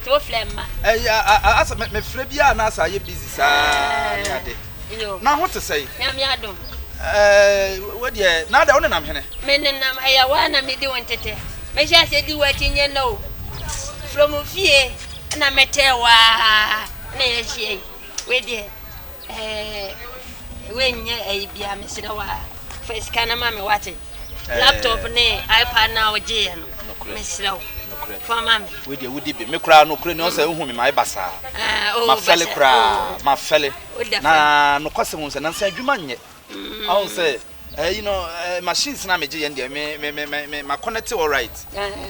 Nti wo frɛ mma. Ɛy a asɛ me me frɛ biaa na asɛ ayɛ busy saa ne ade. Yoo. Na ho te sɛn? Nyame adom. Ɛɛ wo deɛ na adɛn wo nenam hene? Me nenam ɛyɛ wo a na me di wo ntetɛ. Me hyɛ aseɛ di w'akyi nyɛ nnɛ o. From fie ɛna me tee wo aa ɛna yɛ ahyia yi. Wei deɛ ɛɛ wei nyɛ ɛyi bia mesrɛ wa fa sika no ma me wate eh. laptop ne ipad na wogye yɛ no mesrɛ wo fa ma me wei deɛ wodi bi me koraa nokorɛ ne ɔsɛ wohu me ma ɛba saa eh, oh, mafɛle koraa oh. mafɛle na nokwasɛm hu sɛ nansa adwuma nyɛ mm. ɔhu sɛ Eh you know eh machines na megye yɛn deɛ me me me me me ma connect alright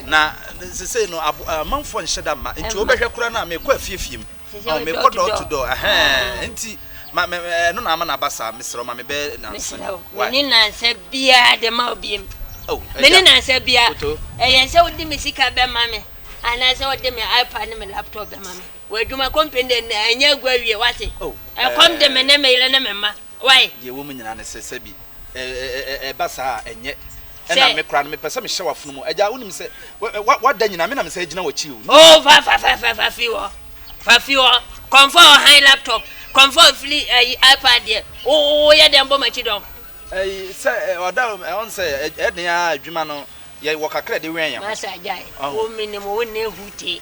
na sesei no abo eh, amanfoɔ nhyɛ da mma nti wobɛhwɛ kora no a mekɔ afiefie mu ɔn mekɔ door to door ɛhɛn nti ma me ɛno na ama no aba saa mesrɛ wo ma me bɛyɛ nansa mesrɛ wo me ne nansa biara de ma wo biem oh ɛgya me ne nansa biara koto ɛyɛ sɛ wode me sika bɛma me anaasɛ wode me ipad ne me laptop bɛma me wɔ adwuma company de ɛnyɛ agu awie wate oh ɛkɔm de me ne me yere ne me mma Wai? Deɛ ɛwɔ mu nyinaa ne sɛ, sɛbi, ɛ, ɛ, ɛ, ɛ, ɛba saa a, ɛnyɛ. Ɛna Sɛ. me koraa no, mepɛ sɛ mehyɛ w'afono mu. Agya, wonim sɛ, wɛ, ɛ, w'a, w'ada nyinaa, me na mesan gyina w'akyi o. Nea. Oh, fa, fa, fa, fa, fa firi hɔ. Fa firi hɔ. Kɔmfɔɔ ɔhan laptop. Kɔmfɔɔ firi, ayi, iPad deɛ. Wo, wo, woyɛ dɛn bɔ m'akyi dɔm? Ɛyi, sɛ, ɛ, ɔda, ɛ, ɔn sɛ, ɛ, ɛdeɛ ara, adwuma no, yɛ, wɔ kakra a ɛde wɛn yɛn ho. Masa, gyae. Ɔho. Wo, menim wo, wonnɛ hutee.